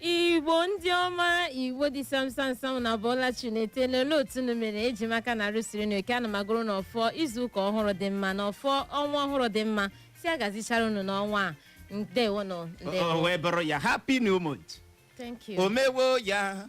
igbo ndị ọma igbo dị samsamsam unu abọọla chi unu eteela olee otu unu mere eji m aka na arụ siri unu ike ana m agọrọ unu ọfọ izu ụka ọhụrụ dị mma na ọfọ ọnwa ọhụrụ dị mma sị ya gazichaara unu n'ọnwa a ndewonụ o ndewo wee bụrụ ya happy new month thank you o mewo ya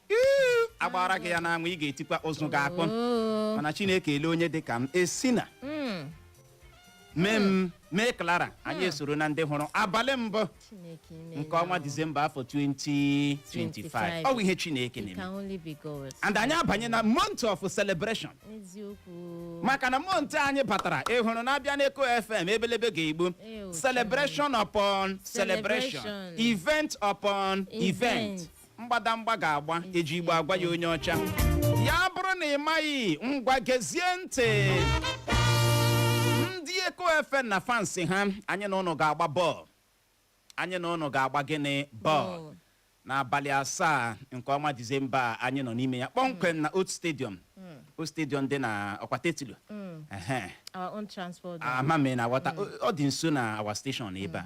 agbara gị ya n'anwụ ị ga-etikwa ụzụ ga-akpọ Oo. mana chineke ele onye dị ka m esina Mm, mee m mee clara anyị esoro na ndị hụrụ abalị mbụ Chineke ime nke ọnwa disemba afọ 2025 ọ bụ ihe chineke It na-eme can only be God. and anyị abanye na month of celebration Eziokwu. maka na month anyị batara ihe ọhụrụ na-abịa n'eko fm ebelebe ga-egbu Ew, celebration upon celebration Celebration. event upon event Event. mgbadamgba ga-agba eji igbo agwa ya onye ọcha ya bụrụ na ị maghị ngwa gezie ntị ndị eko fm na fansi ha anyị na ụnụ ga-agba bọọlụ anyị na ụnụ ga-agba gịnị bọọlụ n'abalị asaa nke ọnwa disemba a anyị nọ n'ime ya kpọmkwem na old stadium old stadium dị na ọ kwa Tetlow Ehe. our own transport. ama m ị na-aghọta ọ dị nso na our station ebe a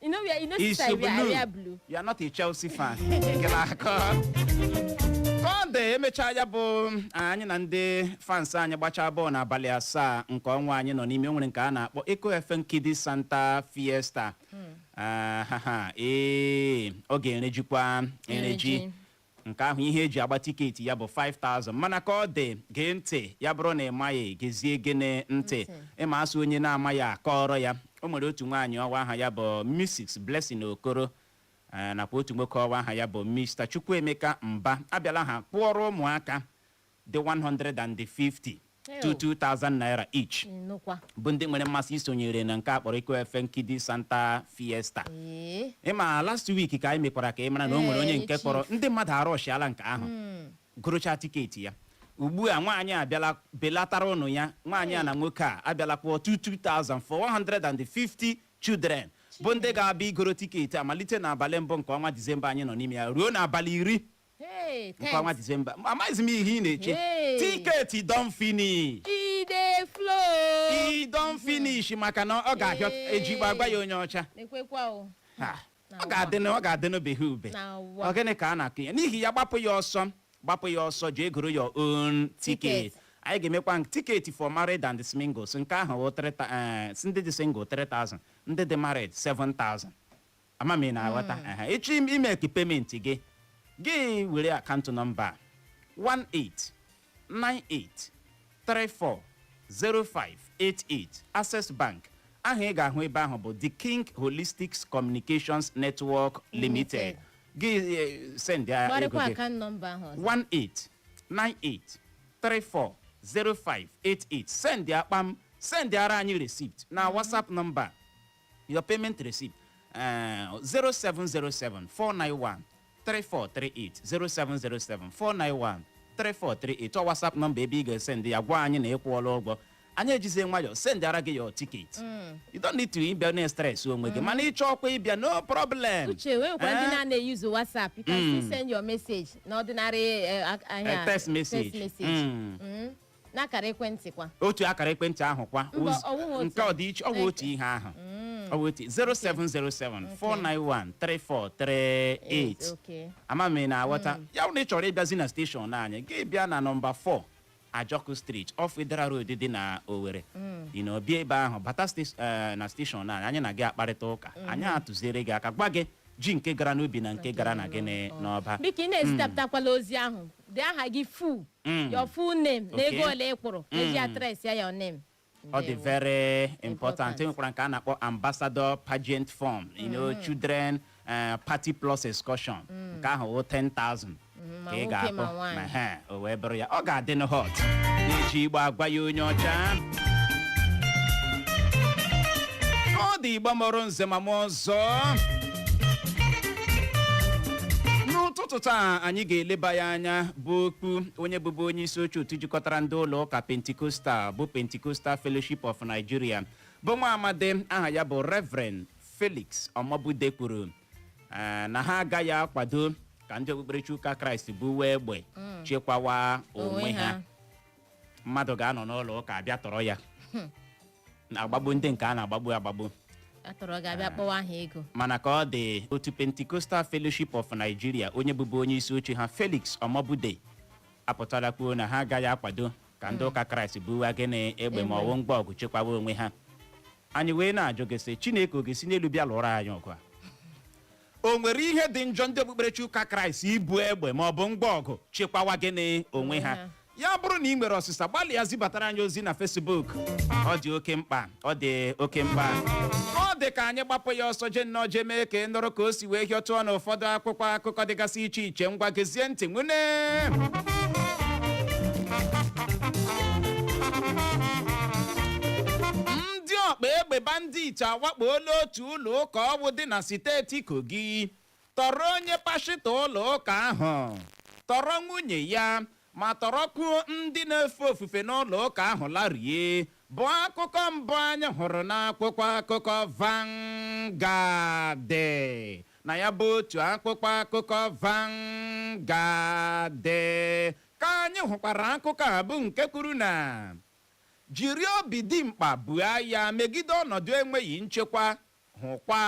You know, we are, you know, It's sister, we are, blue. we are blue. You are not a Chelsea fan. Nke na-akọ. Sunday emechaa ya bụ anyị na ndị fans anyị gbachaa bọọlụ n'abalị asaa nke ọnwa anyị nọ n'ime o nwere nke a na-akpọ Eko FM Kiddies Santa Fiesta. Ah, ha, ha, ee, ọ ga-erejikwa ereji. Ereji. Nke ahụ ihe eji agba tiketi ya bụ 5000 mana ka ọ dị gee ntị ya bụrụ na ị maghị gezie gịnị ntị ị ma a sị onye na-amaghị a kọọrọ ya o nwere otu nwaanyị ọ wụ aha ya bụ Mrs Blessing Okoro eh, nakwa otu nwoke ọ wụ aha ya bụ Mr Chukwuemeka Mba abịala ha kwụọrọ ụmụaka dị 150 2 2,000 naira each bụ ndị nwere mmasị isonyere na nke a kpọrọ Eko FM Kiddies Santa Fiesta ị ma last week ka anyị mekwara ka ị mara na o nwere onye nke kwụrụ ndị mmadụ arushiala nke ahụ hmm. gorochaa tiketi ya ugbu a nwaanyị abịala belatara ụnụ ya nwaanyị a na nwoke a abịala kwụọ 2 2,000 for 150 children bụ ndị ga-abịa igoro tiketi a malite n'abalị mbụ nke ọnwa disemba anyị nọ n'ime ya ruo n'abalị iri Hey, nke ọnwa disemba amaghịzi m ihe ị na-eche Hey. tiketi don finish E dey flow. e don finish maka na ọ ga-ahịọ Hey. eji igbo agwa ya onye ọcha Ekwekwa o. Ha, Na ọ ga-adịnụ ọ ga-adịnụ behe ube Na ụwa. ọ gịnị ka a na-akọ ya n'ihi ya gbapụ ya ọsọ gbapụ ya ọsọ jee goro your own ticket Ticket. anyị ga-emekwa nke- tiketi for married and singles nke ahụ wụ 3,000, eh, ndị dị single 3000 ndị dị married 7000 ama m ị na-aghọta Aha, ị chọọ im- ime ka pementi gị gị were akaụntụ nọmba a, 1898340588 Access Bank aha ị ga-ahụ ebe ahụ bụ The King Holistics Communications Network Limited gị eh, send ya ego gbarịkwa gị akaụntụ nọmba ahụ ọzọ 1898340588 send ya kpam send ara anyị receipt na WhatsApp nọmba your payment receipt eh, 0707 491 3438 0707 491 3438 ọ WhatsApp nọmba ebe ị ga-esendị ya gwa anyị na ị kwụọla ụgwọ anyị ejizie nwayọọ sendịara gị your ticket you don't need to ịbịa na stress onwe gị mana ị chọọkwa ịbịa no problem uche wee nwekwa ndị Eh? na-anaghị eyuzu whatsapp you can still send your message na ordinary eh, a- ahịa Eh, text message. Mm. Mm. n'akara ekwentị kwa otu akara ekwentị ahụ kwa Mba, oz- ọ wụghị otu. nke ọ dị iche ọ bụ otu Okay. ihe ahụ ọ bụ otu 0707 491 3438 okay ama m ị na-aghọta ya bụrụ na ị chọrọ ịbịazi na steshọn anyị gị bịa na nọmba 4 ajọkụ street off wetheral road dị na owere ị na-abịa ebe ahụ bata stes- eh, na steshọn anyị anyị na gị akparịta ụka anyị atụziere gị aka gwa gị ji nke gara n'ubi na nke gara na gịnị n'ọba biko ị na-ezitapụtakwala ozi ahụ dee aha gị fu Mm. your full name na Okay. ego ole ị kwụrụ Mm. eji atres ya your name ọ dị Ndewo. very important Important. enwekwara nke a na-akpọ ambassador pageant form you know children eh, party plus excursion nke ahụ wụ 10,000 ma ka ị nwoke ga-akpọ ma nwaanyị. ma ha o wee bụrụ ya ọ ga-adị na hot na-eji igbo agwa ya onye ọcha ndị igbo mụrụ nze ma mụọ ọzọ n'ụtụtụ taa anyị ga-eleba ya anya bụ okwu onye bụbu onye isi oche otu jikọtara ndị ụlọ ụka pentikostal bụ pentikostal fellowship of nigeria bụ nwa amadi aha ya bụ reverend felix omobude kwuru eh, na ha agaghị akwado ka ndị okpukperechi ụka kraịst buwe egbe chekwawa onwe ha mmadụ ga-anọ n'ụlọ ụka a bịa tọrọ ya na-agbagbu ndị nke a na-agbagbu agbagbu a tọrọ gị a bịa kpọwa aha ego mana ka ọ dị otu Pentecostal Fellowship of Nigeria onye bụbu onye isi oche ha Felix Omobude apụtala kwuo na ha agaghị akwado ka ndị ụka Kraịst buwa gịnị egbe ma ọ wụ ngwa ọgụ chekwawa onwe ha anyị wee na-ajụ gị sị Chineke ọ ga-esi n'elu bịa lụọrọ anyị ọgụ a o nwere ihe dị njọ ndị okpukperechi ụka kraịst ibu egbe ma ọ bụ ngwa ọgụ chekwawa gịnị onwe ha ha. ya bụrụ na ị nwere ọsịsa gbalịa zibatara anyị ozi na fesbuk ọ dị oke mkpa ọ dị oke mkpa ọ dị ka anyị gbapụ ya ọsọ jee nnọọ jee mee ka ị nụrụ ka o si wee hịọtụọ na ụfọdụ akwụkwọ akụkọ dịgasị iche iche ngwa gezie ntị nwune ndị ọgba egbe bandit awakpola otu otu ụlọ ụka ọ wụ dị na siteti Kogi tọrọ onye pashịta ụlọ ụka ahụ tọrọ nwunye ya ma tọrọkwuo ndị na-efe ofufe n'ụlọ ụka ahụ larie bụ akụkọ mbụ anyị hụrụ n'akwụkwọ akụkọ Vanguard na ya bụ otu akwụkwọ akụkọ Vanguard ka anyị hụkwara akụkọ a bụ nke kwuru na Jiri obi dimkpa buo agha megide ọnọdụ enweghị nchekwa, hụkwa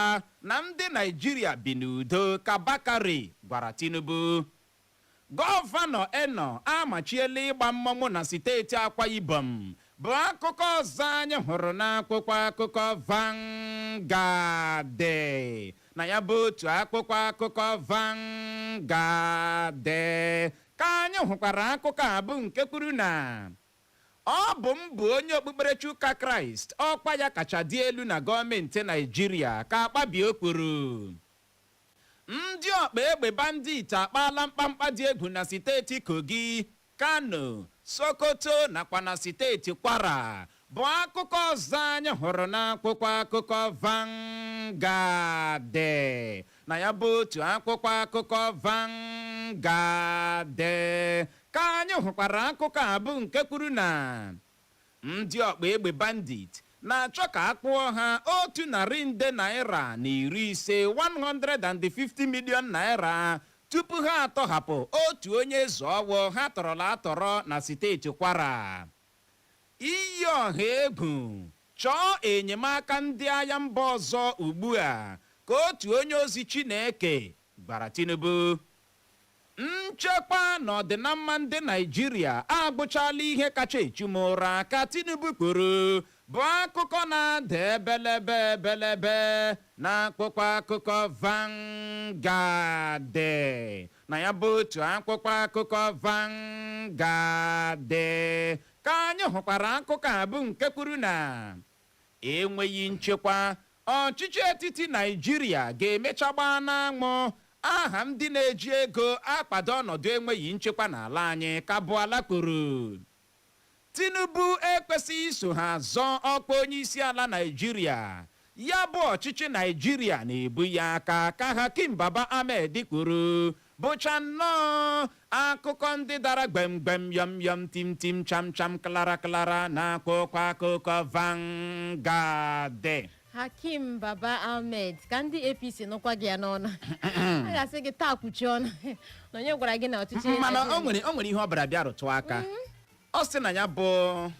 na ndị Naịjirịa bi n'udo, ka Bakare gwara Tinubu. Gọvanọ Eno amachiela ịgba mmọnwụ na siteeti Akwa Ibom bụ akụkọ ọzọ anyị hụrụ n'akwụkwọ akụkọ Vanguard. Na ya bụ otu akwụkwọ akụkọ Vanguard ka anyị hụkwara akụkọ a bụ nke kwuru na Ọ bụ m bụ onye okpukperechi ụka Kraịst, ọkwa ya kacha dị elu na gọọmentị Naịjirịa, ka Akpabio kwuru. Ndị ọkpa egbe bandit akpaala mkpamkpa dị egwu na siteti Kogi, Kano, Sokoto nakwa na siteti Kwara bụ akụkọ ọzọ anyị hụrụ n'akwụkwọ akụkọ Vanguard Na ya bụ otu akwụkwọ akụkọ Vanguard ka anyị hụkwara akụkọ a bụ nke kwuru na ndị ọkpa egbe bandit na-achọ ka a kwụọ ha otu narị nde naira na iri ise 150 million naira tupu ha atọhapụ otu onye eze ọ wụ ha tọrọla atọrọ na steeti Kwara. Iyi ọha egwu, chọọ enyemaka ndị agha mba ọzọ ugbu a, ka otu onye ozi Chineke gwara Tinubu. Nchekwa na ọdịnamma ndị Naịjirịa abụchaala ihe kacha echu m ụra, ka Tinubu kwuru, bụ akụkọ na-ada ebelebe ebelebe n'akwụkwọ akụkọ Vanguard. Na ya bụ otu akwụkwọ akụkọ Vanguard ka anyị hụkwara akụkọ a bụ nke kwuru na enweghị nchekwa ọchịchị etiti Naịjirịa ga-emecha gbaa n'anwụ aha ndị na-eji ego akwado ọnọdụ enweghị nchekwa n'ala anyị ka Bwala kwuru. Tinubu ekwesịghị iso ha zọọ ọkwa onyeisiala Naịjirịa. Ya bụ ọchịchị Naịjirịa na-ebu ya aka, ka Hakeem Baba Ahmed kwuru. Bụcha nnọọ akụkọ ndị dara gbem gbem yọm yọm tim tim cham cham klara klara n'akwụkwọ akụkọ Vanguard. hakim baba ahmed ka ndị apc nụkwa gị ya n'ọnụ a ga-asị gị taa kpuchi ọnụ na onye gwara gị na ọchịchị mana o nwere o nwere ihe ọ bịara bịa rụtụ aka ọ sị na ya bụ ọ-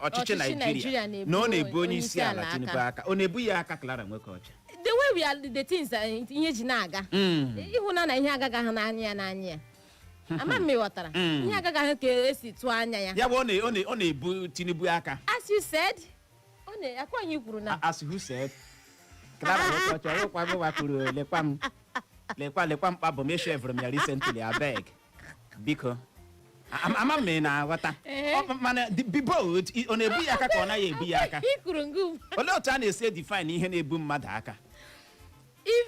ọchịchị Ọchịchị naijiria Naịjirịa na-ebu na ọ na-ebu onye isi ala onyeisiala tinubu aka. aka ọ na-ebu ya aka clara nwokeọcha the way we are the things that ihe ji na-aga ị hụna na ihe agaghị ahụ n'anya ya n'anya ya ama m ị ghọtara ihe agaghị ahụ ka e si tụọ anya ya ya bụ ọ na- ọ na- ọ na-ebu tinubu aka as you said ọ na- akwa ihe i kwuru na a sị who said clara nwokeọcha ọkwa gịwa kwuru lekwa m lekwa lekwa mkpa abụ m eshevụrụ m ya recently abeg biko Am- ama m ma ị na-aghọta Ee. Ọ- mana the- be bold i- ọ na-ebu ya aka ka ọ naghị ebu ya aka i kwuru ngụ olee otu a na-esi edefine ihe na-ebu mmadụ aka if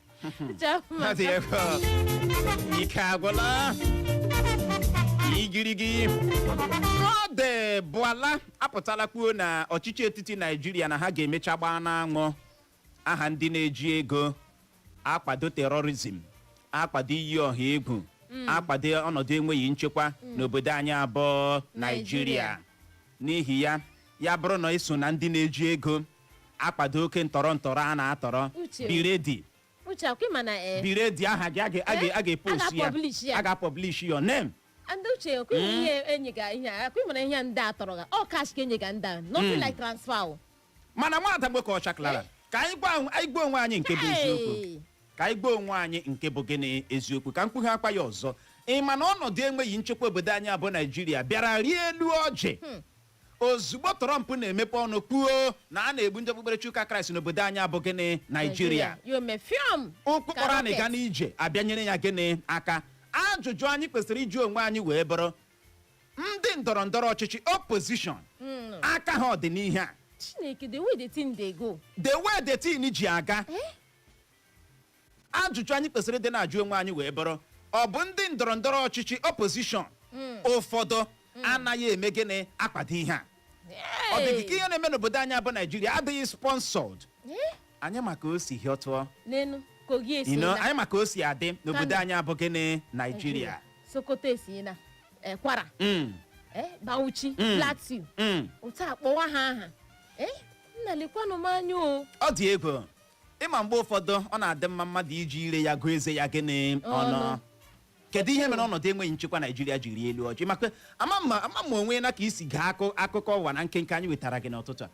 Ike agwụla. Igirigi. De Bwala apụtala kwuo na ọchịchị etiti Naijiria na ha ga-emecha gbaa n'anwụ aha ndị na-eji ego akwado terọrizm akwado iyi ọha egwu akwado ọnọdụ enweghị nchekwa n'obodo anyị a bụ Naijiria Naijiria. n'ihi ya ya bụrụ na i so na ndị na-eji ego akwado oke ntọrọ ntọrọ a na-atọrọ Uche. be ready uche akwa ị ma na ee be ready aha gị a ga- a ga- a ga-epost A ga-publish ya. a ga-publish your name ndị uche akwa ị ma ihe e nyega ihe a, akwa ị ma na ihe a ndị a tọrọ ga ọ cash ka e nyega ndị a nothing like transfer o mana nwada nwokeọcha clara ka anyị gwa onwe- anyị gwa onwe anyị nke bụ eziokwu Hey! ka anyị gwa onwe anyị nke bụ gịnị eziokwu ka m kwughakwa ya ọzọ ị ma na ọnọdụ enweghị nchekwa obodo anyị a bụ naijiria bịara rie elu ọjị ozugbo Trump na-emepe ọnụ kwuo na a na-egbu ndị okpukperechi ụka Kraịst n'obodo anyị a bụ gịnị Naijiria ya o mee fiọm ụkwụ kpọrọ anyị gaa n'ije abịanyere ya gịnị aka ajụjụ anyị kwesịrị ịjụ onwe anyị wee bụrụ ndị ndọrọ ndọrọ ọchịchị opposition aka ha ọ dị n'ihe a chineke the way the thing dey go the way the thing ji aga ajụjụ anyị kwesịrị dị na-ajụ onwe anyị wee bụrụ ọ bụ ndị ndọrọ ndọrọ ọchịchị opposition ụfọdụ anaghị eme gịnị akwado ihe a ọ dị gị ka ihe na-eme n'obodo anyị bụ naijiria adịghị sponsored anyị ma ka o si hịọtụọ n'enu kogi esi ino na anyị ma ka o si adị n'obodo Kano. anyị a bụ gịnị naijiria sokoto e si na eh, kwara Mm, eh, bauchi Mm. plateau mm. otu a kpọwa ha aha eh, nna lekwanụ m anya o ọ dị egwu ị ma mgbe ụfọdụ ọ na-adị mma mmadụ iji ire ya gụọ eze ya gịnị ọnụ Ọnụ. kedu ihe mere ọnọdụ enweghị nchekwa naijiria ji rie elu ọjị maka ama m ma ama m ma onwe na ka i si gee akụ akụkọ ụwa na nkenke anyị wetara gị n'ụtụtụ a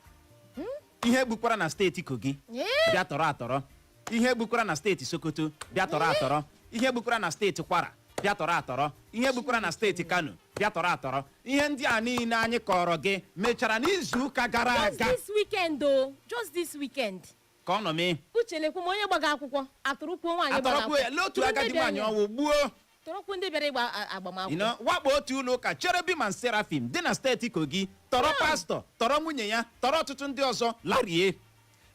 ihe gbukwara na steeti kogi Ee. bịa tọrọ atọrọ ihe gbukwara na steeti sokoto bịa tọrọ atọrọ ihe gbukwara na steeti kwara bịa tọrọ atọrọ ihe gbukwara na steeti kano bịa tọrọ atọrọ ihe ndị a niile anyị kọọrọ gị mechara n'izu ụka gara just aga this weekend o just this weekend ka ọ nọ mee uche na-ekwu ma onye gbaga akwụkwọ atọrọkwuo nwaanyị gbara atọrọkwuo ya lee otu Ndị agadi bịara- nwaanyị ọnwụ gbuo tọrọkwuo ndị bịara ịgba a- agbamakwụkwọ you know, wakpo otu ụlọ ụka cherubim and seraphim dị na steeti kogi tọrọ pastọ tọrọ nwunye ya tọrọ ọtụtụ ndị ọzọ larie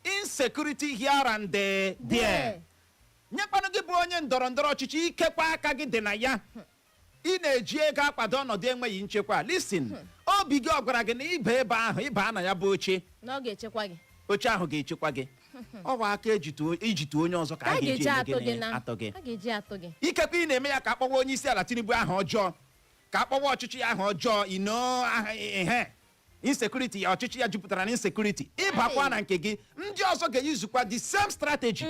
insecurity here and there. nyekwanụ gị bụ onye ndọrọ ndọrọ ọchịchị ikekwa aka gị dị na ya ị na-eji ego akwado ọnọdụ enweghị nchekwa listen obi gị ọ gwara gị na ịba ebe ahụ ịba na ya bụ oche na ọ ga-echekwa gị oche ahụ ga-echekwa gị ọ bụ aka e ji tụọ i ji tụọ onye ọzọ ka ka a a ga-eji ga-eji eme atụ gị gịnị na atọ gị a ga-eji atụ gị ikekwe ị na-eme ya ka a kpọwa onye isi ala tinubu aha ọjọọ ka a kpọwa ọchịchị ya aha ọjọọ you know aha ihe insecurity ya ọchịchị ya jupụtara na insecurity ịbakwa na nke gị ndị ọzọ ga-eyuzukwa the same strategy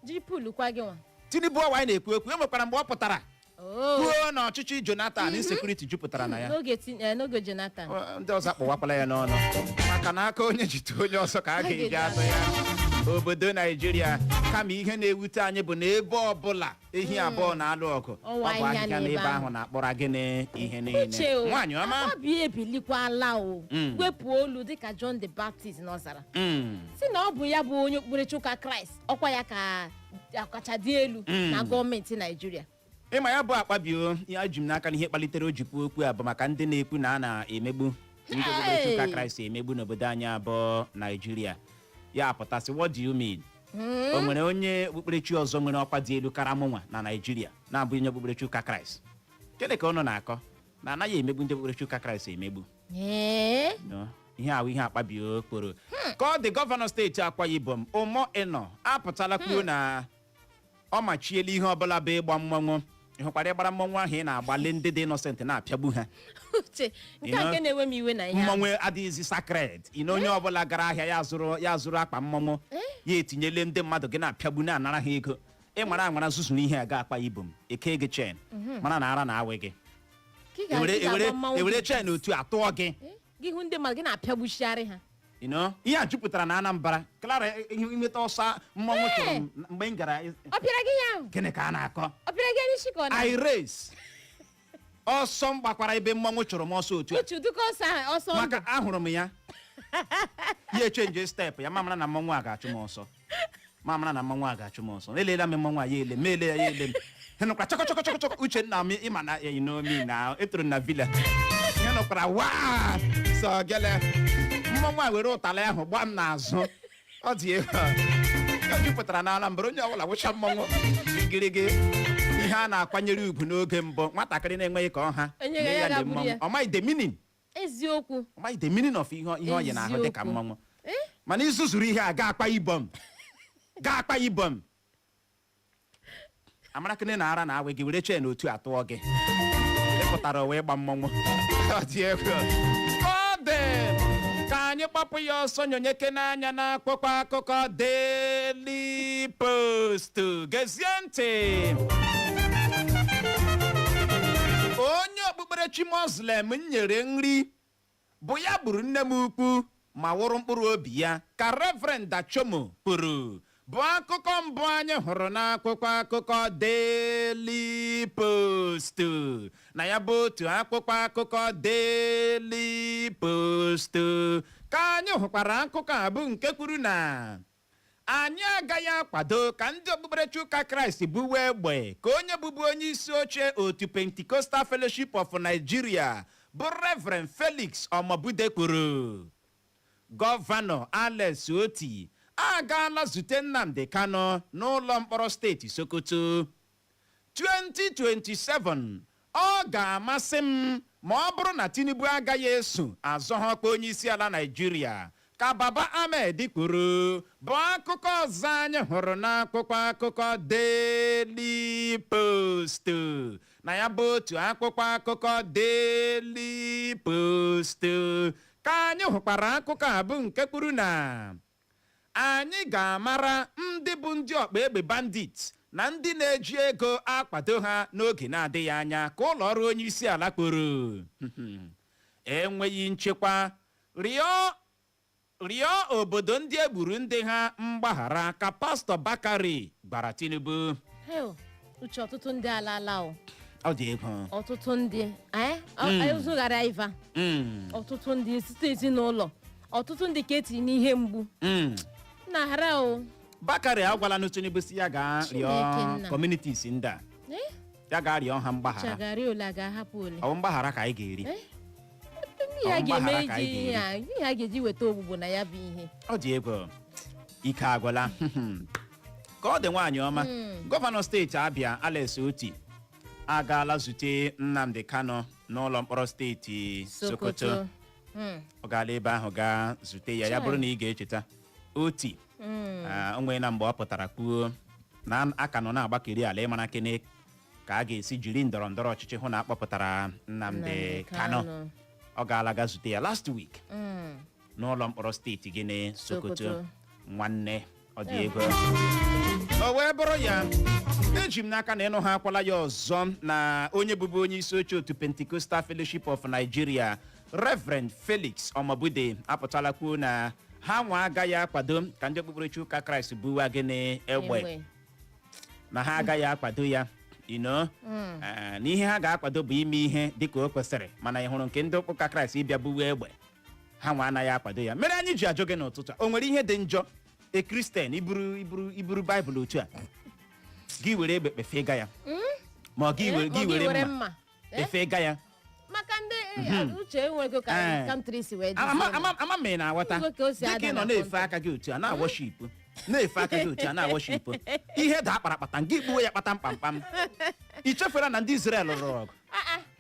jiri pulu kwa gị nwa tinubu ọwa anyị na-ekwu ekwu e nwekwara mgbe ọ pụtara Oo. kwuo na ọchịchị jonathan insecurity jupụtara na ya n'oge ti- eh, n'oge jonathan Ọ, ndị ọzọ akpọwakwala ya n'ọnụ maka na aka onye ji tụọ onye ọzọ ka a ga-eji atụ ya obodo naijiria kama ihe na-ewute anyị bụ na ebe ọbụla ehi abụọ na-alụ ọgụ ọ Ọwa bụ ahịhịa ahịhịa n'ebe n'ebe ahụ ahụ. na-akpọrọ gịnị ihe niile uche o nwaanyị ọma akpabio ebilikwala o Mm. wepụ olu dịka john the baptist n'ọzara Mm, sị na ọ bụ ya bụ onye okpukperechi ụka kraịst ọkwa ya ka akacha dị elu Mm. na gọọmenti naijiria ịma ya bụ akpabio eji m n'aka na ihe kpalitere o ji kwuo okwu a bụ maka ndị na-ekwu na a na-emegbu ndị okpukperechi ụka Hey! kraịst emegbu n'obodo anyị a bụ naijiria ya pụta sị what do you mean o nwere onye okpukperechi ọzọ nwere ọkwa dị elu kara mụnwa na naijiria na-abụ onye okpukperechi ụka kraịst gịnị ka ụnụ na-akọ na anaghị emegbu ndị okpukperechi ụka kraịst emegbu Ee, No, ihe a wụ ihe akpabio kpọrọ ka ọ dị gọvanọ steeti akwa ibom umo eno apụtala kwuo na ọ machiela ihe ọbụla bụ ịgba mmọnwụ ị hụkwara ịgbara mmọnwụ ahụ ị na-agbalị ndị dị innocent na-apịagbu ha uche nke You a know, nke na-ewe m iwe na ihe ahụ. mmọnwụ adịghịzi sacred you know onye ọbụla gara ahịa ya zụrụ ya zụrụ akpa mmọnwụ ya etinyele ndị mmadụ gị na-apịagbu na-anara ha ego ị nwara anwara zuzuru ihe a gaa akwa ibom e kee gị chain mara na ara na-awị gị Ka ị ga- ewere ị ga-agba ewere mmanwụ ewere gị. chain otu a tụọ gị gị hụ ndị mmadụ gị na-apịagbuchigharị ha You know, ihe a jupụtara na anambra clara i nweta ọsọ mmanwụ chụrụ m mgbe m gara ị- ọ pịara gị ya ahụ gịnị ka a na-akọ ọ pịara gị n'isi ka ọ na i race ọsọ m gbakwara ebe mmanwụ chụrụ m ọsọ otu a uche dịka ọsọ ahụ ọsọ ndụ maka ahụrụ m ya ya echenje step ya mụ amara na mmanwụ a ga-achụ m ọsọ ma mara na mmọnwụ a ga-achụ m ọsọ eleela m mmọnwụ a ya ele m m ele ya ya ele m ihe m nụkwara chọkọ chọkọ chọkọ chọkọ Uchenna m ịma na ya inomi na etoro na vila ihe m nụkwara waa sọ gele mmọnwụ a were ụtalị ahụ gbaa m n'azụ ọ dị egwu ọ jupụtara na Anambra onye ọbụla wụcha mmọnwụ gịrịgị ihe a na-akwanyere ugwu n'oge mbụ nwatakịrị na-enweghị ka ọ ha Enyeghị ya lee ya lee gagburu mmọnwụ ya. ọ maghị the meaning eziokwu Ọ maghị the meaning of ihe ihe ọ yi n'ahụ dị ka Eziokwu. mmọnwụ Eh? mana i zuzuru ihe a gaa Akwa Ibom gaa Akwa Ibom amarakene na ara na-awị gị were chain otu a tụọ gị ị pụtara wee gba mmọnwụ Ọ dị egwu. Ọ dị. ka anyị kpapụ ya ọsọ nyonyekene anya n'akwụkwọ akụkọ Daily Post gezie ntị okpukperechi Muslim m nyere nri bụ ya gburu nne m ukwu ma wụrụ mkpụrụ obi ya ka Reverend Dachomo kwuru bụ akụkọ mbụ anyị hụrụ n'akwụkwọ akụkọ Daily Post na ya bụ otu akwụkwọ akụkọ Daily Post ka anyị hụkwara akụkọ a bụ nke kwuru na Anyị agaghị akwado ka ndị okpukperechi ụka Kraịst buwe egbe, ka onye bụbu onye isi oche otu Pentecostal Fellowship of Nigeria bụ Reverend Felix Omobude kwuru. Gọvanọ Alex Otti agaala zute Nnamdi Kanu n'ụlọ mkpọrọ steeti Sokoto. 2027, Ọ ga-amasị m ma ọ bụrụ na Tinubu agaghị eso azọ ha ọkwa onyeisiala Naịjirịa, ka Baba Ahmed kwuru, bụ akụkọ ọzọ anyị hụrụ n'akwụkwọ akụkọ Daily Post. Na ya bụ otu akwụkwọ akụkọ Daily Post ka anyị hụkwara akụkọ a bụ nke kwuru na Anyị ga-amara ndị bụ ndị ọkpa egbe bandit na ndị na-eji ego akwado ha n'oge na-adịghị anya, ka ụlọọrụ onyeisiala kwuru. Enweghị nchekwa, rịọ obodo ndị e gburu ndị ha mgbaghara, ka Pastọ Bakari gwara Tinubu. Heo, Uche ọtụtụ ndị alaala o Ọ dị egwu. ọtụtụ ndị anyị ụzụghara iva Mm. ọtụtụ ndị site ezinụlọ ọtụtụ ndị ka etiri n'ihe mgbu Mm. na hara o bakari agwalanụ tinubu sị ya gaa Chineke rịọ nna. communities ndị a Eh? ya gaa rịọ ha mgbaghara chagharị ole a ga-ahapụ ole ọ bụ mgbaghara ka anyị ga-eri Eh? ihe a Ọ ga-eme mgbaghara ka iji anyị ihe a ihe a ga-eji weta ọgwụgwọ na ya bụ ihe ọ dị egwu ike agwụla ka ọ dị nwaanyị ọma Mm. gọvanọ steeti abịa alex oti agaala zute nnamdi kanu n'ụlọ mkpọrọ steeti sokoto sokoto Mm. ọ gaala ebe ahụ gaa zute ya ya Chai. bụrụ na ị ga-echeta oti Mm. Ah, onwe ya mgbe ọ pụtara kwuo na a ka nọ na-agbakịrị ala ịmara kene ka a ga-esi jiri ndọrọ ndọrọ ọchịchị hụ na a kpọpụtara Nnamdi Nnamdi Kanu Kanu. ọ gaala gaa zute ya last week Mm. n'ụlọ mkpọrọ steeti gịnị Sokoto Sokoto. nwanne ọ dị egwu o wee bụrụ ya eji m n'aka na ị nụhakwala ya ọzọ na onye bụbu onye isi oche otu Pentecostal Fellowship of Nigeria Reverend Felix Omobude apụtala kwuo na ha nwa agaghị akwado ka ndị okpukperechi ụka Kraịst buwa gịnị egbe Egbe. na ha agaghị akwado ya no na ihe ha ga-akwado bụ ime ihe dịka o kwesịrị mana ị hụrụ nke ndị ụka kraịst ịbịa buwe egbe ha nwa anaghị akwado ya mere anyị ji ajụ gị n'ụtụtụ a, o nwere ihe dị njọ e kristian iburu iburu iburu baịbụl otu a gị were egbe kpefee ga ya ma ọ gị were- gị were mma Eh? kpefee ga ya maka ndị eh, uche enwego ka Eh. kantri si wee Ama- ama- ama- ama ma ị na-aghọta Igwe ka o si dịka ada ị nọ na na-efe kọnta. aka gị otu a na-awọship na-efe aka gị otu a na-awọship ihe daa kparakpatam gị gbuo ya kpatam kpamkpam i chefere na ndị Izrel lụrụ ọgụ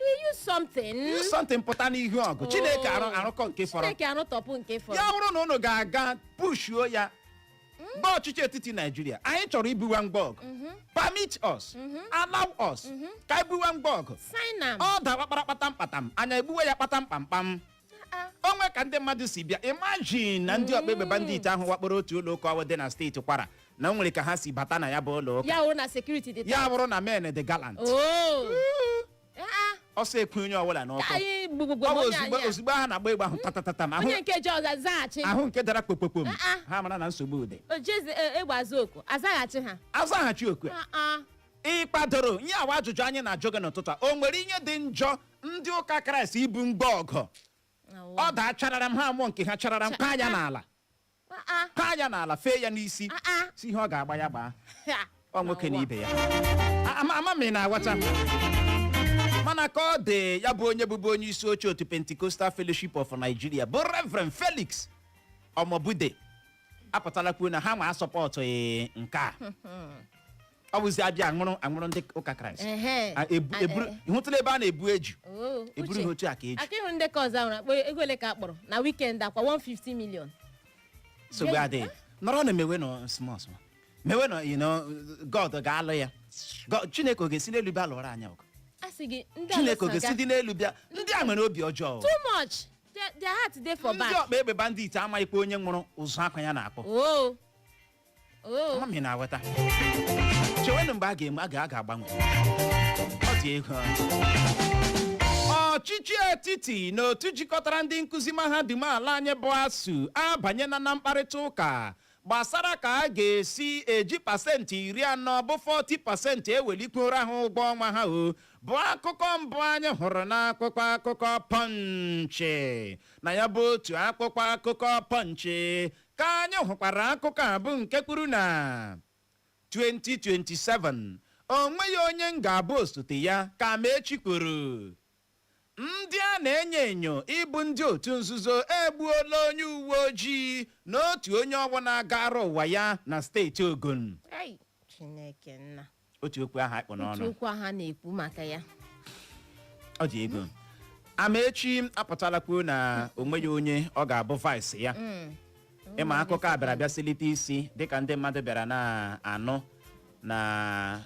you use something use something pụta n'ihu ọgụ chineke arụ arụkọ nke fọrọ chineke arụtọpụ nke fọrọ ya bụrụ na unu ga-aga pushuo ya gwa ọchịchị etiti naijiria anyị chọrọ ibuwa ngwa ọgụ permit us allow us ka anyị buwa ngwa ọgụ sign am ọ dawa kparakpatam kpatam anyị egbuwe ya kpatam kpamkpam o nwe ka ndị mmadụ si bịa imagine na ndị ọgba egbe bandit ahụ wakporo otu ụlọ ụka ahụ dị na steeti kwara na o nwere ka ha si bata na ya bụ ụlọ ụka ya wụrụ na sekuriti dị ya bụrụ na men dị gallant oo Ah, ọsọ ekwu onye ọbụla ka n'ọkụ anyị gbugbugbo ọ bụ onye ozugbo anyị a. ozugbo ha na-agba egbe ahụ tatatatam ahụ onye nke ji ọza zaghachi ahụ nke dara kpokpokpom Ah, ah. ha mara na nsogbu dị o jezi e- egbe azụ oku azaghachi ha azaghachi oku a. Ah, ah. ị kwadoro ihe awa ajụjụ anyị na-ajụ gị n'ụtụtụ a o nwere ihe dị njọ ndị ụka kraịst ibu ngwa ọgụ Awọ. ọ daa chararam ha amụọ nke ha chararam kaa ya n'ala Ah, ah. kaa ya n'ala fee ya n'isi Ah, ah. sị ihe ọ ga-agba ya gbaa Ha. ọ nwoke na Awọ. ibe ya A- ama ama m ị na-aghọta mana ka ọ dị ya bụ onye bụbu onye isi oche otu Pentecostal Fellowship of Nigeria bụ Reverend Felix Omobude apụtala kwuo na ha nwa asọpọtụghị nke a ọ bụzi a bịa aṅụrụ aṅụrụ ndị ụka kraịst Ehe. A- ebu- A- eburu- ị hụtụla ebe a na-ebu eju Oo, eburu Uche. ha otu a ka eju aka ị hụ ndị nke ọzọ ahụ akpọ ego ole ka a kpọrọ na wikendi ọ kwa 150 million nsogbu Jay, adịghị nọrọ na mewenụ small small mewenụ you know, god ga-alụ ya God- chineke ọ ga-esi n'elu bịa lụọrọ anyị ọgụ a sị gị ndị chineke ọ Alụsị ga-esi aga- dị n'elu bịa ndị a nwere obi ọjọọ too much Their- their heart dey for back ndị ọkpa egbe bandit amaghịkwa onye nwụrụ ụzụ akwa ya na-akpọ oo oo ama m ị na-aghọta chewenụ mgbe a ga-enwe a ga- a ga-agbanwe ọ dị egwu ọchịchị etiti na otu jikọtara ndị nkụzi mahadum ala anyị bụ ASUU abanyela na mkparịta ụka gbasara ka a ga-esi eji pasentị iri anọ bụ 40 pasentị ewelikwuoro ha ụgwọ ọnwa ha ọ bụ akụkọ mbụ anyị hụrụ n'akwụkwọ akụkọ Punch na ya bụ otu akwụkwọ akụkọ Punch ka anyị hụkwara akụkọ a bụ nke kwuru na 2027 o nweghị onye m ga-abụ osote ya ka Amaechi kwuru Ndị a na-enyo enyo ịbụ ndị otu nzuzo egbuola onye uweojii na otu onye ọgbọ na-agara ụwa ya na steeti Ogun. Ei, Chineke nna. Otu okwu ahụ a kpụ n'ọnụ. Otu okwu ahụ a na-ekwu maka ya. Ọ dị egwu. Amaechi apụtala kwuo na o nweghị onye ọ ga-abụ vice ya. ị ma akụkọ a bịara bịa silite isi dịka ndị mmadụ bịara na-anụ na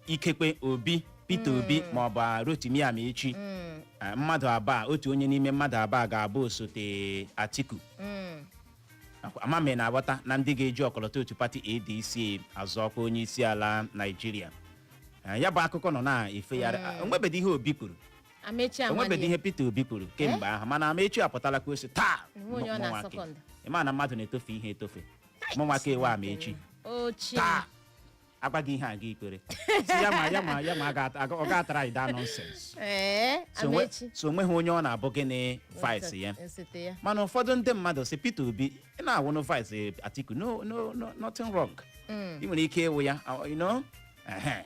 ikekwe Obi Peter Obi ma ọ bụ a Rotimi Amaechi Mm, eh, mmadụ abụọ otu onye n'ime mmadụ abụọ ga-abụ osote Atiku mm, Akwa- ama m ị na-aghọta na ndị ga-eji ọkọlọtọ otu pati ADC azọ ọkwa onye isi ala Naịjirịa Eh, ya bụ akụkọ nọ na-efegharị Ah, o nwebedị ihe Obi kwuru Amaechi o nwebedị ihe Peter Obi kwuru kemgbe ahụ mana Amaechi apụtala kwuo sị taa Enwe onye ọ na-asọ mụnwake. kọndọ. Ị ma na mmadụ na-etofe ihe etofe mụnwaka ewe Amaechi ochie taa agwa gị ihe a gị ikwere sị ya ma ya ma ya ma a ga- aga- ọ ga-atara anyị daa nonsense ee so onwe- Amaechi so onweghị onye ọ na-abụ gịnị vice ya osote ya mana ụfọdụ ndị mmadụ sị Peter Obi ị na-awụnụ vice Atiku no no no nothing wrong ị nwere ike ịwụ ya uh, you know ehe.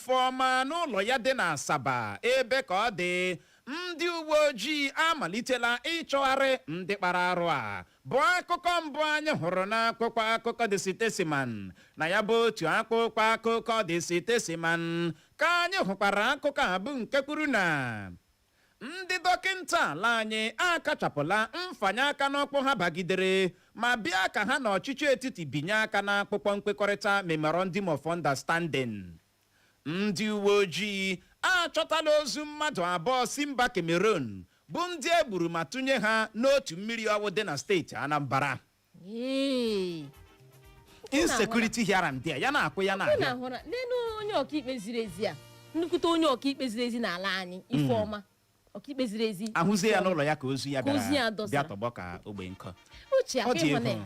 Ifeọma n'ụlọ ya dị n'Asaba ebe ka ọ dị ndị uwe ojii amalitela ịchọgharị ndị kpara arụ a bụ akụkọ mbụ anyị hụrụ n'akwụkwọ akụkọ The Statesman na ya bụ otu akpụkpọ akụkọ The Statesman ka anyị hụkwara akụkọ a bụ nke kwuru na Ndị dọkịnta ala anyị akachapụla mfanye aka n'ọkpụ ha bagidere ma bịa ka ha na ọchịchị etiti binye aka n'akpụkpọ nkwekọrịta Memorandum of Understanding. Ndị uweojii achọtala ozu mmadụ abụọ si mba Cameroon bụ ndị e gburu ma tụnye ha n'otu mmiri ọwụ dị na steeti Anambra. Ee. insecurity here and there ya na-akwụ ya na-abịa Ị na-ahụ na n'elu onye ọkaikpe ziri ezi a nnukwute onye ọkaikpe ziri ezi n'ala anyị Ifeọma ọkaikpe ziri ezi a hụzie ya n'ụlọ ya ka ozu ya Ka ozu ya bịara dọsa. bịa tọgbọ ka ogbe nkụ uche ọ dị akpịhụna egwu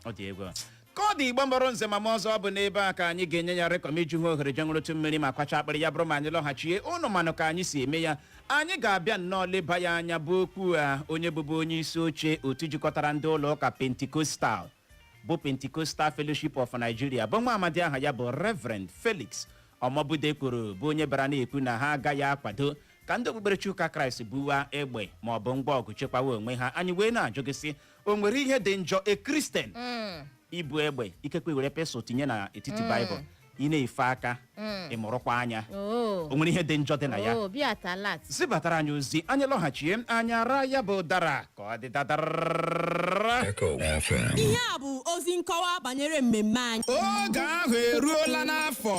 ọ dị egwu ka ọ dị Igbo mụrụ nze ma mụọ ọzọ ọ bụ n'ebe a ka anyị ga-enye ya rekọm iju ha ohere je ṅụrụtụ mmiri ma kwacha akpịrị ya bụrụ ma anyị lọghachie ụnụ manụ ka anyị si eme ya anyị ga-abịa nnọọ leba ya anya bụ okwu a onye bụbu onye isi oche otu jikọtara ndị ụlọ ụka pentikostal bụ pentecostal fellowship of nigeria bụ nwa amadi aha ya bụ reverend felix omobude kwuru bụ onye bara na-ekwu na ha agaghị akwado ka ndị okpukperechi ụka kraịst buwa egbe ma ọ bụ ngwa ọgụ chekwawa onwe ha anyị wee na-ajụ gị sị o nwere ihe dị njọ a Christian ibu egbe ikekwe were pistol tinye na etiti Bible ị na-efe aka ị mụrụkwa anya o nwere ihe dị njọ dị na ya zibatara anyị ozi anyị lọghachie anyị ara ya bụ ụdara ka ọ dị dadara Echo FM. ihe a bụ ozi nkọwa banyere mmemme anyị oge ahụ eruola n'afọ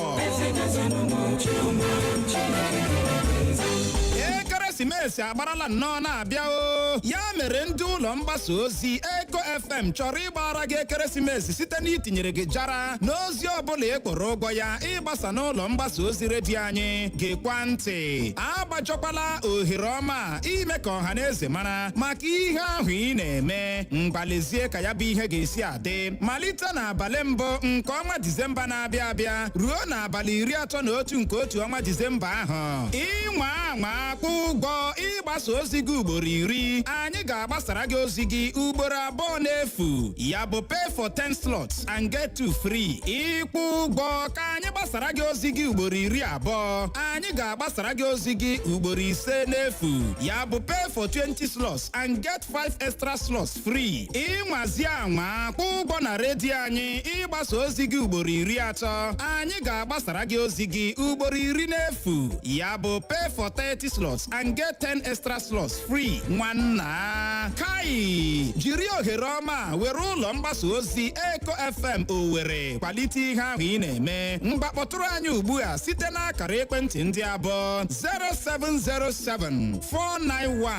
ekeresimesi agbarala nnọọ na-abịa ọ ya mere ndị ụlọ mgbasa ozi eko fm chọrọ ịgbara gị ekeresimesi site n'itinyere gị jara n'ozi ọbụla ị kwụrụ ụgwọ ya ịgbasa n'ụlọ mgbasa ozi redio anyị gekwa ntị agbajọkwala ohere ọma a ime ka ọha na eze mara maka ihe ahụ ị na-eme ngwa lezie ka ya bụ ihe ga-esi a dị malite n'abalị mbụ nke ọnwa disemba na-abịa abịa ruo n'abalị iri atọ na otu nke otu ọnwa disemba ahụ ị nwaa anwa kwụọ ụgwọ ịgbasa ozi gị ugboro iri anyị ga-agbasara gị ozi gị ugboro abụọ n'efu ya bụ pay for 10 slots and get two free ị kwụọ ụgwọ ka anyị gbasara gị ozi gị ugboro iri abụọ anyị ga-agbasara gị ozi gị ugboro ise n'efu ya bụ pay for 20 slots and get 5 extra slots free ị nwazie anwa kwụọ ụgwọ na redio anyị ịgbasa ozi gị ugboro iri atọ anyị ga-agbasara gị ozi gị ugboro iri n'efu ya bụ pay for 30 slots and get 10 extra slots free nwanna ka i jiri ohere ọma a were ụlọ mgbasa ozi eko fm owere kwalite ihe ahụ ị na-eme ngwa kpọtụrụ anyị ugbu a site n'akara ekwentị ndị a bụ 0707 491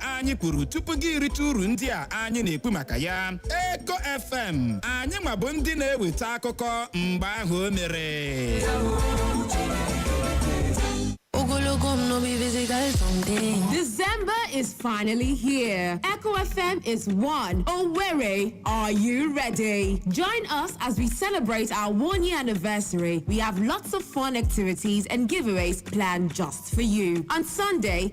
anyị kwuru tupu gị irite uru ndị a anyị na-ekwu maka ya eko fm anyị nwa bụ ndị na-eweta akụkọ mgbe ahụ o mere Ogologo m no be physical something. December is finally here. Echo FM is one. Owerri, are you ready? Join us as we celebrate our one year anniversary. We have lots of fun activities and giveaways planned just for you. On Sunday,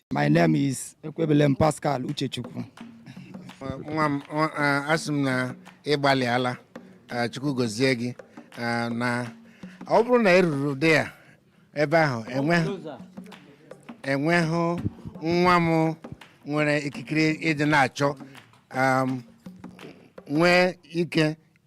My name is Ekwebelem Pascal Uchechukwu. nwa m ọ- a- asị m na ị gbalịala a, chukwu gozie gị a, na ọ bụrụ na ị ruru dị ya ebe ahụ enweghị enweghị nwa m nwere ikikere ịdị na-achọ am, nwee ike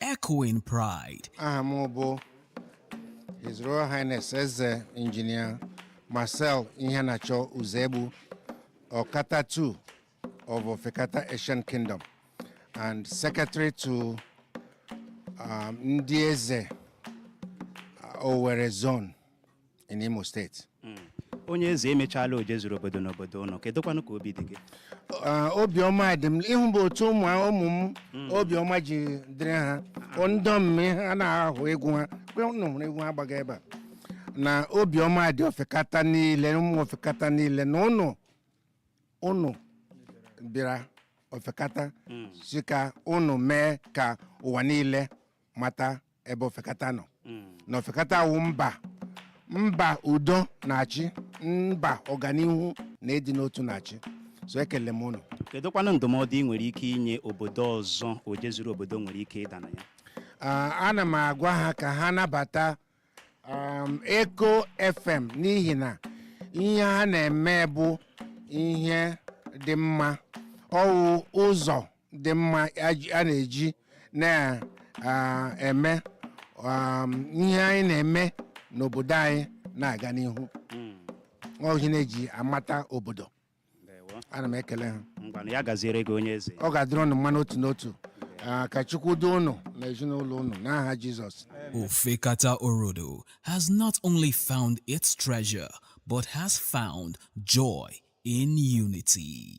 Echoing Pride. aha m bụ His Royal Highness Eze Engineer Marcel Iheanacho Uzegbu Okata II of Ofekata Ancient Kingdom and Secretary to um, Ndị Eze uh, Owerri Zone in Imo State hmm. onye eze emechaala oje zuru obodo n'obodo ụnụ kedụkwanụ ka obi dị gị ah, obiọma dị m ịhụ bụ otu ụmụ ụmụ m hmm. obiọma ji dịrị ha ndom m a na-ahụ egwu ha ụnụ hụrụ egwu ha gbaga ebe a na obiọma dị ofekata niile ụmụ ofekata niile na ụnụ ụnụ bịara ofekata hmm. si ka ụnụ mee ka ụwa niile mata ebe ofekata nọ na ofekata wụ mba mba udo na-achị mba ọganihu na ịdị n'otu na-achị so ekele m ụnụ kedụkwanụ ndụmọdụ ị nwere ike inye obodo ọzọ oje zuru obodo nwere ike ịda na ya Ah, ana m agwa ha ka ha nabata um, Echo FM n'ihi na ihe ha na-eme bụ ihe dị mma ọ wụ ụzọ dị mma a ji- a na-eji na-eme um, ihe anyị na-eme n'obodo anyị na-aga n'ihu ọ wụ ihe a na-eji amata obodo ana m ekele ha ngwanụ ya gaziere gị onye eze ọ ga-adịrị ụnụ mma n'otu n'otu Ah, ka chukwu duo ụnụ na ezinụlọ ụnụ n'aha jizọs Ofekata Orodo has not only found its treasure, but has found joy in unity.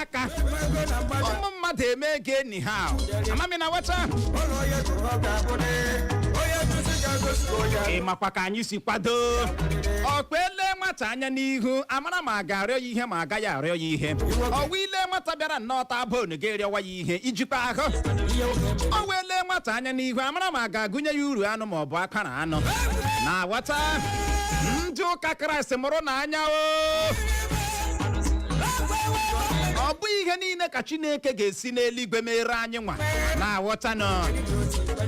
aka ụmụ mmadụ eme ego anyhow ama m ị na-aghọta ị makwa ka anyị si kwado ọ kwa e lee nwata anya n'ihu a mara ma a ga-arịọ ya ihe ma a gaghị arịọ ya ihe ọwa ị lee nwata bịara nnọọ taa bonu ga-arịọwa ya ihe ijikwa ahụ ọ wụ e lee nwata anya n'ihu a mara ma a ga-agụnye ya uru anụ ma ọ bụ akwara anụ na-aghọta ndị ụka kraịst mụrụnụ anya o ọ bụ ihe niile ka chineke ga-esi n'eluigwe meere anyị nwa na-aghọta nọ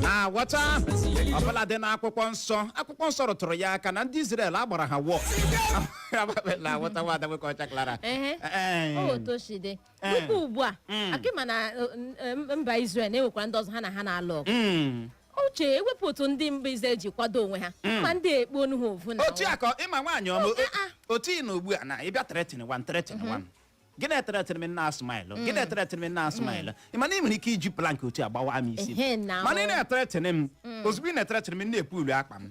na-aghọta ọbụla dị n'akwụkwọ nsọ akwụkwọ nsọ rụtụrụ ya aka na ndị Izrel agbara ha wọ na-aghọta nwa adagbe ka ọcha klara Ehe. Ee. otu o si dị Eh. tupu ugbu a Mm. akị ma na eh, n- eh, mba Israel na-enwekwara ndị ọzọ ha na ha na-alụ ọgụ Mm. uche ewepụ otu ndị mba Israel ji kwado onwe ha Mm. ma ndị ekpo onu ha ovu na otu ụwa. akọ ịma nwaanyị ọma Oke, ah. otu ị nọ ugbu a na ị bịa threatenwa m threatenwa m gị na-ethreaten m na-asmile gị na-ethreaten m na-asmile ị ma na ị nwere ike iji plank otu a gbawa m isi Ehe, na mana ị ọ. na-ethreaten m ozugbo ị na-ethreaten m m na-epu ulu akpa m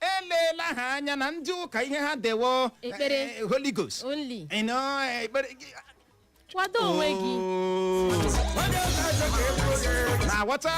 eleela ha anya na ndị ụka ihe ha dewo Ekpere. eh, eh, Holy Ghost only You know, eh, ekpere gị- kwado onwe gị Oh. na-aghọta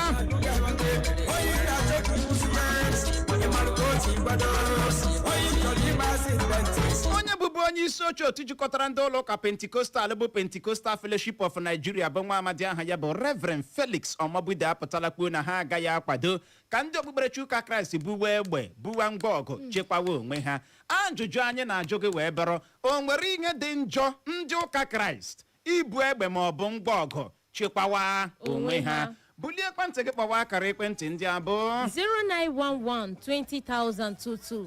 onye bụbu onye isi oche otu jikọtara ndị ụlọ ụka Pentecostal bụ Pentecostal Fellowship of Nigeria bụ nwa amadi aha ya bụ Reverend Felix Omobude apụtala kwuo na ha agaghị akwado ka ndị okpukperechi ụka kraịst buwe egbe buwa ngwa ọgụ chekwawa onwe ha ajụjụ anyị na-ajụ gị wee bụrụ o nwere ihe dị njọ ndị ụka kraịst ibu egbe ma ọ bụ ngwa ọgụ chekwawa onwe ha bulie ekwentị gị kpọwa akara ekwentị ndị a bụ 0911 2000 22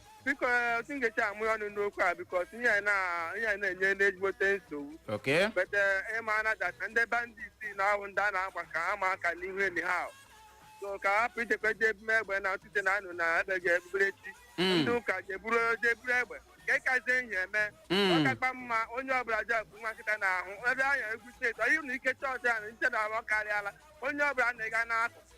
biko otu m ga-esi amụ ya ọnụ n'okwu a because ihe anyị na- ihe anyị na-enye ndị ezigbote nsogbu okay but ị ma na that ndị bandit na-awụ ndị a na-agba ka ama aka n'ihu enyi ha ahụ. so ka a hapụ ichekwa eji ebume egbe na ọtụtụ na anụ na ebe ga-ebubere echi Mm. ndị ụka je buru je buru egbe ka ịkazie ihe eme Mm. ọ kakwa mma onye ọbụla ji akụ nwa nkịta n'ahụ ebe anya egwu steeti ọ yiri na ike chọọchị ahụ nche na ahụ karịala onye ọbụla na-ega n'akụ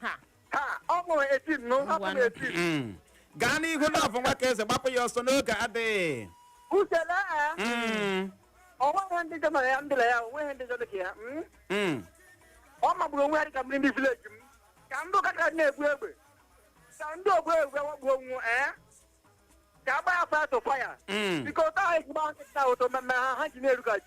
ha ha ọ bụ eti m nụ ọ bụ Ngwanụ. eti m Mm. gaa n'ihu Love nwa ka eze gbapụ ya ọsọ n'oge adịghị usele a Mm. o nweghị njọ mere ya ndịla ya o nweghị njọ dị ka ya mm? Mm. ọ magburu onwe ya dịka mmiri ndị village m ka ndị ụka ka na-ebu egbe ka ndị ogbu egbe wakpoo unu ee ka a gbaa ya fire to fire Mm. biko otu ahụ ejigba nkịta ụtọ mmemme ha ha ji na-erugaji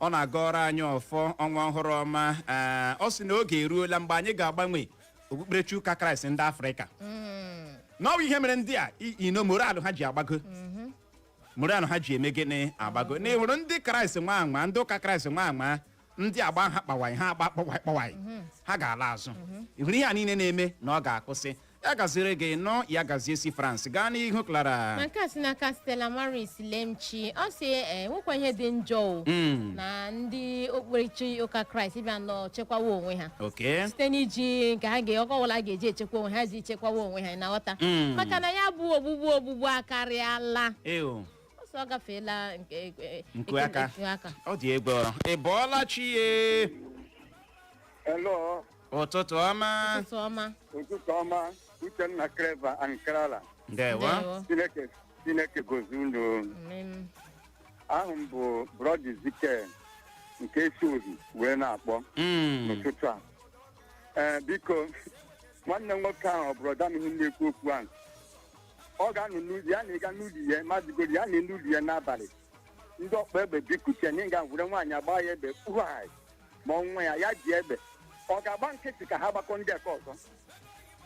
ọ na-agọrọ anyị ọfọ ọnwa ọhụrụ ọma ee, ọ sị na oge eruola mgbe anyị ga-agbanwe okpukperechi ụka kraịst ndị afrịka na ọ wụ ihe mere ndị a i- you know morale ha ji agbago morale ha ji eme gịnị agbago na ị hụrụ ndị kraịst nwa anwa ndị ụka kraịst nwa anwa ndị a gbaa ha kpawaị ha agbaa kpọwaị kpọwaị ha ga-ala azụ ị hụrụ ihe a niile na-eme na ọ ga-akwụsị ya gaziere gị nọ ya gazie si france gaa n'ihu Clara na nke a si n'aka Stella Maris Lemchi ọ sị e nwekwa ihe dị njọ o Mm, na ndị okpukperechi ụka kraịst bịanụ chekwawa onwe ha okay site n'iji nke ha ga ọkọ ọbụla ga-eji echekwa onwe ha ji chekwawa onwe ha ị na-aghọta Mm. maka na ya bụ ogbugbu ogbugbu akarịala Ew, ọsọ ọ gafeela nke e- e- Nku aka. nku aka ọ dị egwu ị bọọla chi ye Hello. ụtụtụ ọma ụtụtụ ọma ụtụtụ ọma uchenna kreva ankarala ndewo ndewo chineke chineke gọzie unu Amen. aha m bụ brọda zike nke si ohi wee na-akpọ Mm, n'ụtụtụ a ee biko nwanne m nwoke ahụ ọ brọda m ihe m na-ekwu okwu ahụ ọ ga-anọ n'ụlọ ya na ịga n'ụlọ ya mazigoro ya na n'ụlọ ya n'abalị ndị ọgba egbe bịakute na ịga were nwaanyị agba ya egbe kpughai ma ọ nwa ya ya ji egbe ọ ga-agba nkịtị ka ha gbakọọ ndị aka ọzọ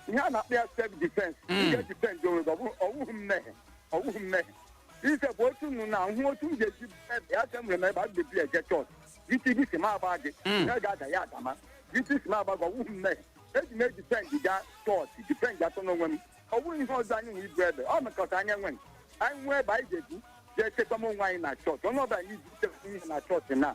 ihe a na-akpọ ya self defense Mm. nke defend onwe gị ọ bụrụ- ọwụghị mmehie ọwụghị mmehie ise bụ otu nnu na hụ otu m ga-esi ebe ya sị nwere m egbe a ga-ebu eje chọọchị isi gị si m agba gị Mm. ya ga-ada ya adama isi si m agba gị ọwụghị mmehie eji m edifend gaa chọọchị defend atọ n'onwe m ọ bụghị ihe ọzọ anyị nwere ibu egbe ọ mekọta anyị enwe anyị nwee egbe anyị ga-ebu jee chekwa m onwe anyị na chọọchị onye ọbụla anyị ji chekwa ihe na chọọchị na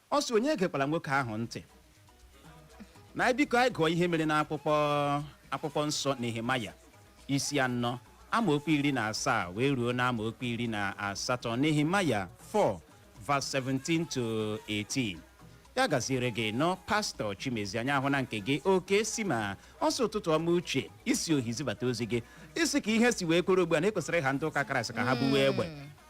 Ọ sị onye egekwala nwoke ahụ ntị na anyị biko anyị gụọ ihe mere n'akwụkwọ nsọ Nehemaya isi anọ amaokwu iri na asaa wee ruo na amaokwu iri na asatọ Nehemaya 4 verse 17 to 18 ya gaziere gị nnọọ pastọ chimezie anyị ahụna nke gị oke si ma ọ sị ụtụtụ ọma uche i si ohi zibata ozi gị ị sị ka ihe si wee kwụrụ ugbu a na ekwesịrị ịha ndị ụka kraịst ka ha buwe egbe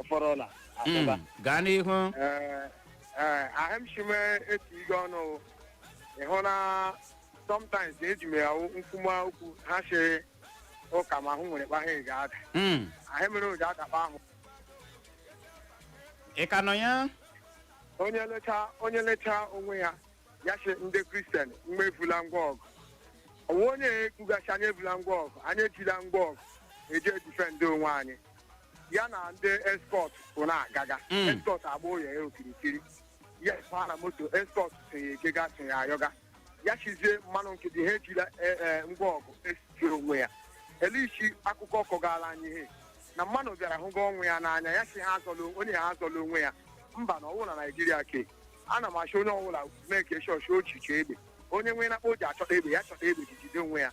ọfọrọla abụba Mm, gaa n'ihu Ee, ee, ahụ m shime eti ige ọnụ ịhụ na sometimes eji m ya nkwuma okwu ha si ụka ma ahụ nwere kpahe ga ada Mm, ahụ mere ụja adakpa ahụ ị ka nọ ya onye lecha onye lecha onwe ya ya sị ndị kristian mgbe evula ngwa ọgụ onwe onye ekwuga sị anyị evula ngwa ọgụ anyị ejila ngwa ọgụ eji edifendị onwe anyị ya na ndị escort bụ na-agaga Mm. escort agba ụlọ ya okirikiri ya baa na moto escort so ya ejega so ya ayọga ya sịzie mmanụ nkịtị ha ejila e, e, ngwa ọgụ esijiri onwe ya elichi akụkọ kọgara anyị ihe na mmanụ bịara hụga ọnwụ ya n'anya ya sị ha azọla onwe- onye ha azọla onwe ya mba na ọwụ na naijiria ke ana m asị onye ọbụla mee ka eshọshi ochiche egbe onye nwee na kpa o ji achọta egbe ya chọta egbe ji jide onwe ya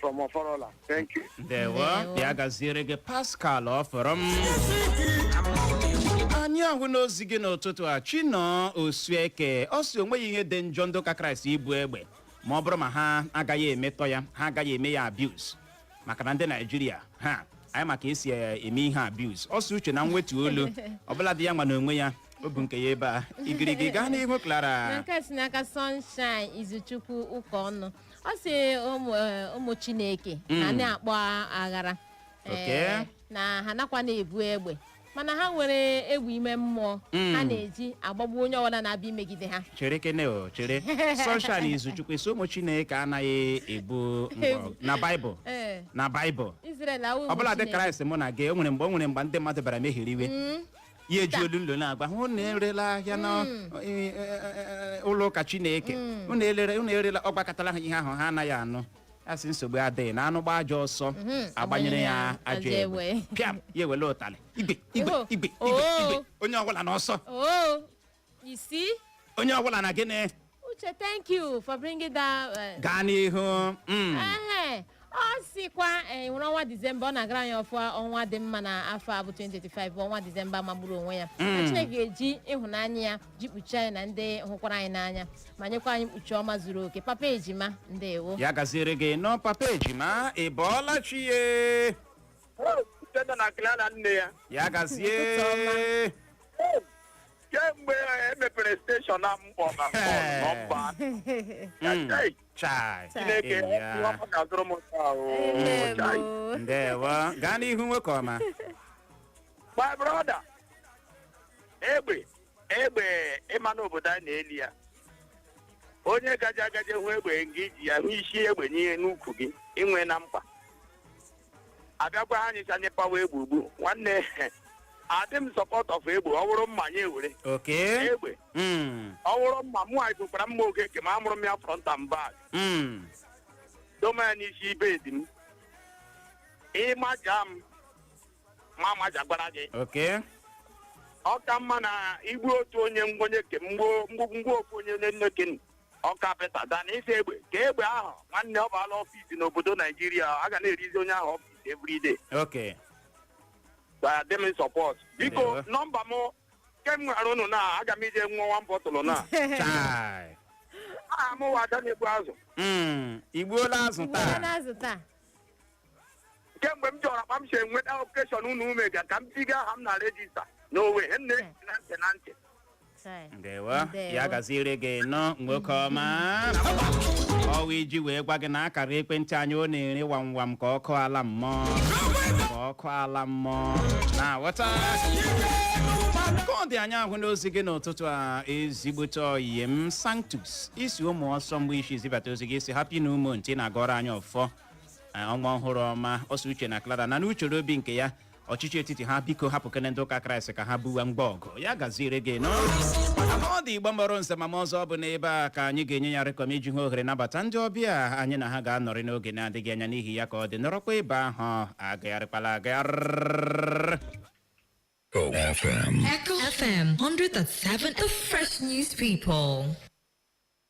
from Oforola. Thank you. ndewo Ndewo. ya gaziere gị pascal ọfọrọ m anyị ahụna ozi gị n'ụtụtụ a chinọ osueke ọ sị onweghị ihe dị njọ ndị ụka kraịst ibu egbe ma ọ bụrụ ma ha agaghị emetọ ya ha agaghị eme ya abuse maka na ndị naijiria ha anyị ma ka esi eh, eme ihe abuse ọ sị uchenna nwetụ olu ọbụladị ya nwa n'onwe ya o bu nke ya ebe a igirigi gaa n'ihu na clara nke a si n'aka sunshine izuchukwu ụka ọnụ ọ sị ụmụ eh, ụmụ chineke na Mm. na-akpa aghara Eh, Okay. na ha nakwa na-ebu egbe mana ha nwere egbe ime mmụọ Mm. ha na-eji agbagbu onye ọbụla na-abịa imegide ha chere kene o chere sunshine izuchukwu ị sị ụmụ chineke anaghị ebu mgbọ na baịbụl Ee, na baịbụl Israel awụ ụmụ ọbụladị Chineke. kraịst mụ na gị o nwere mgbe o nwere mgbe ndị mmadụ bịara mehiri iwe ya eji olu nlo na-agwa ha unu erela ahịa na Mm. e- e- e- e- ụlọ ụka chineke Mm. unu elere- unu erela ọ gwakatala ha ihe ahụ ha anaghị anụ a sị nsogbu adịghị na anụ gbaa ajọ ọsọ Mhm. a gbanyere ya ajọ Ajọ egbe egbe. pịam ya ewele ụtalị igwe igwe Oho. igwe igwe Oo. igwe onye ọbụla n'ọsọ oo ị sị onye ọbụla na gịnị uche thank you for bringing that uh, gaa n'ihu Mm. ehe ọ sịkwa eh, were ọnwa disemba ọ na-agọrọ anyị ọfọ ọnwa dị mma na afọ a bụ 2025 bụ ọnwa disemba magburu onwe ya na chineke ga-eji ịhụnanya ya ji kpuchie anyị na ndị hụkwara anyị n'anya ma nyekwa anyị mkpuchi ọma zuru oke papa ejima ndewo ya gaziere gị nnọọ papa ejima ị bọọla chi ya Uchenna na Clara nne ya ya gazie Ụtụtụ ọma. kemgbe e mepere steshọn na mkpọ na Eh. nọmba Mm. Chai, Chai. Chineke Enyi ya. ihe ọma ga-azụrụ m nke a, oo. Amen, Chai. oh. Ndewo. Gaa n'ihu nwoke ọma. my brother egbe egbe ị ma na obodo naijiria onye gaje agaje hụ egbe nga i ji ya hụ isi egbe n'ihe n'ukwu gị inwe na mkpa abịakwa ha nyecha nye pawa egbe ugbu nwanne adị m support of egbe ọ bụrụ mma ya ewere Okay. egbe Mm. ọ bụrụ mma mụ anyị gụkwara mma oge ke m amụrụ m ya front and back Mm. doma ya n'isi bed m ị maja m m amajagwara gị Okay. ọ ka mma na i gbuo otu onye nwanne ke m gbuo mgbu mgbu ofu onye onye nne ke ọka peta dan isi egbe ka egbe ahụ nwanne ọ baala ọfis n'obodo naijiria a ga na-erizi onye ahụ ọfis everyday oke dị m support biko Ewe. nọmba m nke m nwere ụnụ na aga m ije nwa nwa bọtụlụ na chai aha m wụ ada na-egbu azụ Mm, i gbuola azụ Uwe taa na-azụ taa. kemgbe m chọrọ akpa m si enweta okeshọn unu ume ga ka m tiga aha m na rejista n'owe he nne na ntị na ntị Chai. ndewo Ndewo. ya gaziere gị nnọọ nwoke ọma ọ wụ iji wee gwa gị na akara ekwentị anyị ọ na-ere wamwam ka ọkụ ala mmụọ ka ọkụ ala mmụọ na-aghọta ka ọ dị anyị ahụna ozi gị n'ụtụtụ a ezigbote oyi m sanctus i si ụmụ ọsọ mgbe i si zibata ozi gị ị sị happy new month na-agọrọ anyị ọfọ Ee, ọnwa ọhụrụ ọma ọ sị uche na clara na n'uchere obi nke ya ọchịchị etiti ha biko hapụkene ndị ụka kraịst ka ha buwa mgba ọgụ ya gaziere gị nọ ọ dị igbo mụrụ nze mụọ ma ọzọ ọ bụ n'ebe a ka anyị ga-enye ya rịkọm iji hụ ohere nabata ndị ọbịa anyị na ha ga-anọrị n'oge na-adịghị anya n'ihi ya ka ọ dị nọrọkwa ebe ahụ agagharịkwala agagharị Echo FM. Echo FM 100.7, the fresh news people.